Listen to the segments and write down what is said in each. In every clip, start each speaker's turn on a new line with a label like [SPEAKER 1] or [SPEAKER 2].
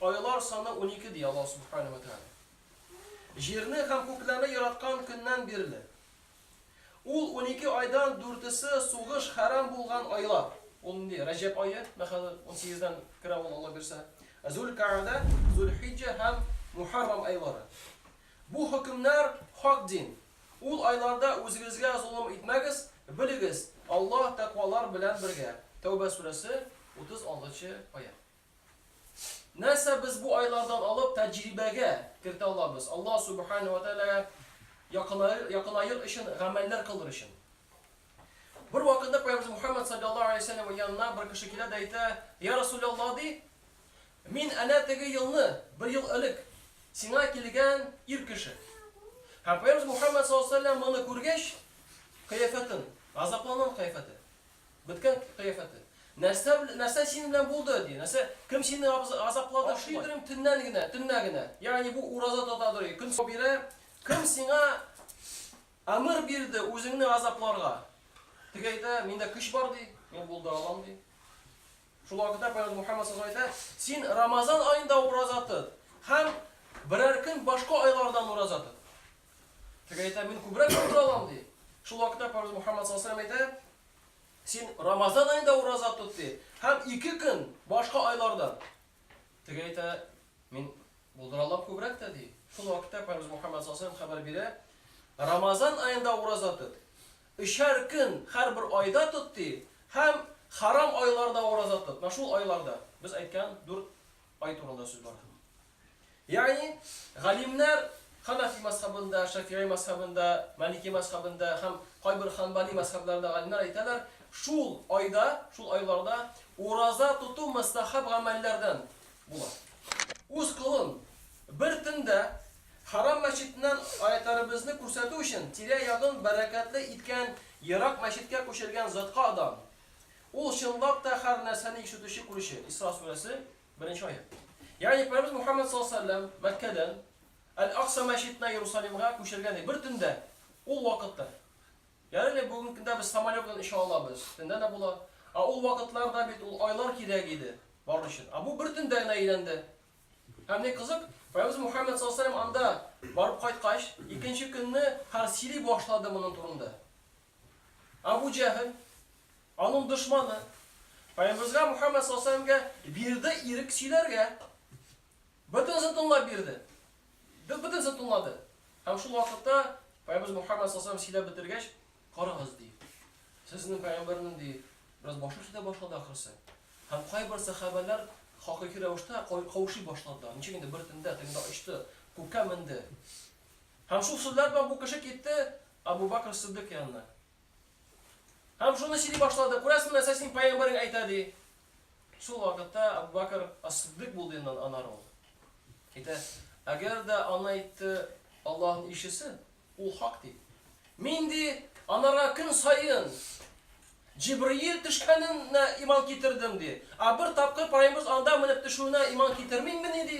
[SPEAKER 1] Айлар саны унике, ди Аллаһ Субхана вә Тәгалә. Җирне һәм күкләрне яраткан көннән бирле. Ул унике айдан дүртесе сугыш хәрам булган айлар. Ул нинди? Рәҗәб ае, менә хәзер унсигездән керә ул, Алла бирсә. Зул-Кәгъдә, Зул-Хиҗҗә һәм Мухаррам айлары. Бу хөкемнәр хак дин. Ул айларда үзегезгә золым итмәгез, белегез, Аллаһ тәкъвалар белән бергә. Тәүбә сүрәсе, 36 нчы аять. Нәрсә без бу айлардан алып тәҗрибәгә кертә алабыз? Аллаһ Субхана ва Тәгаләгә якынаер өчен гамәлләр кылыр өчен. Бер вакытта Пәйгамбер Мухаммад саллаллаһу алейһи ва сәлләм янына бер кеше килә дә әйтә, Я Расуляллаһ, ди, мин әнә теге елны, бер ел элек, сиңа килгән ир кеше. Һәм Пәйгамбер Мухаммад саллаллаһу алейһи ва сәлләм моны күргәч, кыяфәтен, газапланган кыяфәте. Беткән кыяфәте. Нәрсә бел, нәрсә синең белән булды, ди. Нәрсә, кем сине азаплады? Ашый торыйм төннән генә, төннә генә. Ягъни бу ураза тота торый, көн сау бирә. Кем сиңа әмер бирде үзеңне азапларга? Теге әйтә, миндә көч бар, ди, мин булдыра алам, ди. Шул вакытта Пәйгамбәр Мухаммад саллаллаһу алейһи ва сәлләм әйтә, син Рамазан аенда ураза тот һәм берәр көн башка айлардан ураза тот. Теге әйтә, мин күбрәк ураза алам, ди. Шул вакытта Пәйгамбер Мөхәммәд саллаллаһу алейһи әйтә, син Рамазан аенда ураза тот, ди, һәм ике көн башка айларда. Теге әйтә, мин булдыра алам күбрәк тә, ди. Шул вакытта Пәйгамбер Мөхәммәд саллаллаһу алейһи хәбәр бирә, Рамазан аенда ураза тот. Өчәр көн һәрбер айда тот, ди, һәм харам айларда ураза тот. Менә шул айларда. Без әйткән дүрт ай турында сүз бара. Ягъни, галимнәр ханафи мазһабында, шәфигый мазһабында, малики мазһабында һәм кайбер ханбали мазһабларында галимнәр әйтәләр, шул айда, шул айларда ураза тоту мөстәхәб гамәлләрдән була. Үз колын бер төндә Харам мәчетеннән аятарыбызны күрсәтү өчен тирә-ягын бәрәкәтле иткән ерак мәчеткә күчергән затка дан. Ул чынлап та һәр нәрсәне ишетүче күрүче. Исра сүрәсе. Беренче аять. Ягъни Пәйгамбәребез Мухаммәд саллаллаһу алейһи ва сәлләм Мәккәдән Әл-Акса мәчетенә Иерусалимга күчергән иде. Бер төндә, ул вакытта. Ягъни әле бүген көндә без самолет белән оча алабыз, төндә дә була. Ә ул вакытларда бит ул айлар кирәк иде бару өчен. Ә бу бер төндә генә әйләнде. Һәм ни кызык, Пәйгамбәребез Мухаммәд саллаллаһу алейһи ва сәлләм анда барып кайткач, икенче көнне хәл сөйли башлады моның турында. Әбү Җәһел, аның дошманы, Пәйгамбәребезгә Мухәммәд саллаллаһу галәйһи ва сәлләмгә бирде ирек сөйләргә. Бөтенесен тыңлап бирде. Бөтенесен тыңлады. Һәм шул вакытта Пәйгамбәребез Мухәммәд саллаллаһу галәйһи ва сәлләм сөйләп бетергәч, карагыз, ди. Сезнең пәйгамбәрнең, ди, бераз башы эшли дә башлады ахрысы. Һәм кайбер сәхабәләр хакыйкый рәвештә каушый башладылар. Ничек инде бер тендә, тегендә очты, күккә менде. Һәм шул сүзләр белән бу кеше китте, Абу Бакр Сыддык янына. Һәм шуны сөйли башлады. Күрәсең, нәрсә синең пәйгамбәрең әйтә, ди. Шул вакытта Абу Бакр Ас-Сыддык булды инде аннары ул. Әйтә, әгәр дә аны әйтте Аллаһның илчесе, ул хак, ди. Мин, ди, анарга көн саен Җибриил төшкәненә иман китердем, ди. Ә бер тапкыр пәйгамберебез анда менеп төшүенә иман китермиммени, ди.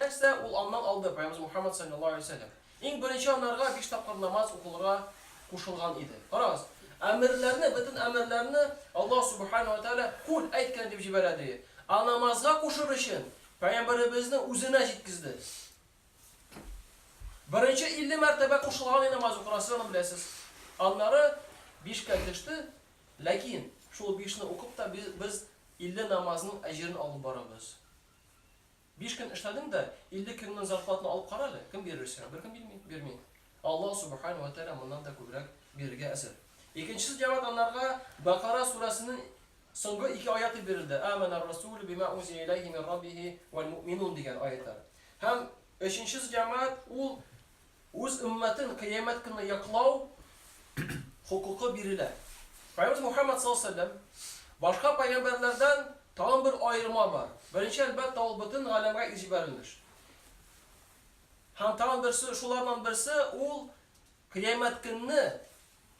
[SPEAKER 1] Нәрсә, ул аннан алды, пәйгамберебез Мухаммад салләллаһу галәйһи ва сәлләм. Иң беренче анарга биш тапкыр намаз укылырга кушылган иде. Карагыз, әмерләрне, бөтен әмерләрне Аллаһ Сүбхәнәһү вә Тәгалә Кул, әйт, кенә дип җибәрә, ди. Ә намазга кушыр өчен Пәйгамбәребезне үзенә җиткезде. Беренче илле мәртәбә кушылган иде намаз укырга, сез аны беләсез. Аннары бишкә төште, ләкин шул бишне укып та без илле намазның әҗерен алып барабыз. Биш көн эшләдең дә, илле көннең зарплатаны алып кара әле, кем бирер сиңа? Беркем бирми, бирми. Аллаһ Субхана уә Тәгалә моннан да күбрәк бирергә әзер. Икенчесе җәмәгать анарга Бакара сүрәсенең соңгы ике аяты бирелде, Амәнәр расулю бима унзиля иләйһи мин раббихи уәл муъминун дигән аятлар. Һәм өченчесе җәмәгать ул Үз өммәтен Кыямәт көнне яклау хокукы бирелә. Пәйгамбәребез Мухәммәд саллаллаһу галәйһи ва сәлләм, Башка пәйгамбәрләрдән тагын бер аерма бар. Беренче, әлбәттә, ул бөтен галәмгә изибәрелеш. Һәм тагын берсе, шулардан берсе, ул Кыямәт көнне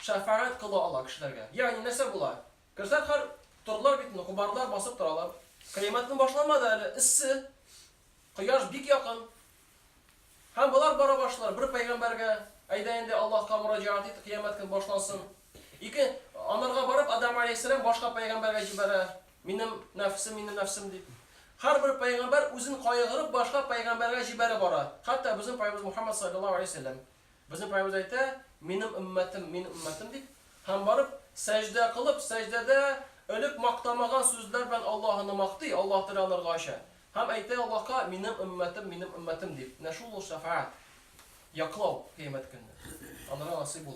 [SPEAKER 1] шәфәгать кыла ала кешеләргә. Ягъни нәрсә була? Керсәң, һәр Тордылар бит инде, кубардылар, басып торалар. Кыямәт көне башламады әле, эссе, кояш бик якын. Һәм болар бара башлар, бер пәйгамбәргә, Әйдә инде, Аллаһка мөрәҗәгать ит, кыямәт көн башлансын. Ике, анарга барып, Адәм галәйһиссәлам башка пәйгамбәргә җибәрә, Минем нәфесем, минем нәфесем дип. Һәрбер пәйгамбәр үзен кайгырып башка пәйгамбәргә җибәрә бара. Хәтта безнең паебыз Мухаммад салләллаһу галәйһи ва сәлләм. Безнең паебыз әйтә, Минем өммәтем, минем өммәтем дип. Һәм барып, сәҗдә кылып, сәҗдәдә, элек мактамаган сүзләр белән Аллаһыны мактый, Аллаһ теле анарга ача. Һәм әйтә Аллаһка, Минем өммәтем, минем өммәтем, дип, менә шул ул шәфәгать, яклау, Кыямәт көнне, анарга насыйп булыр.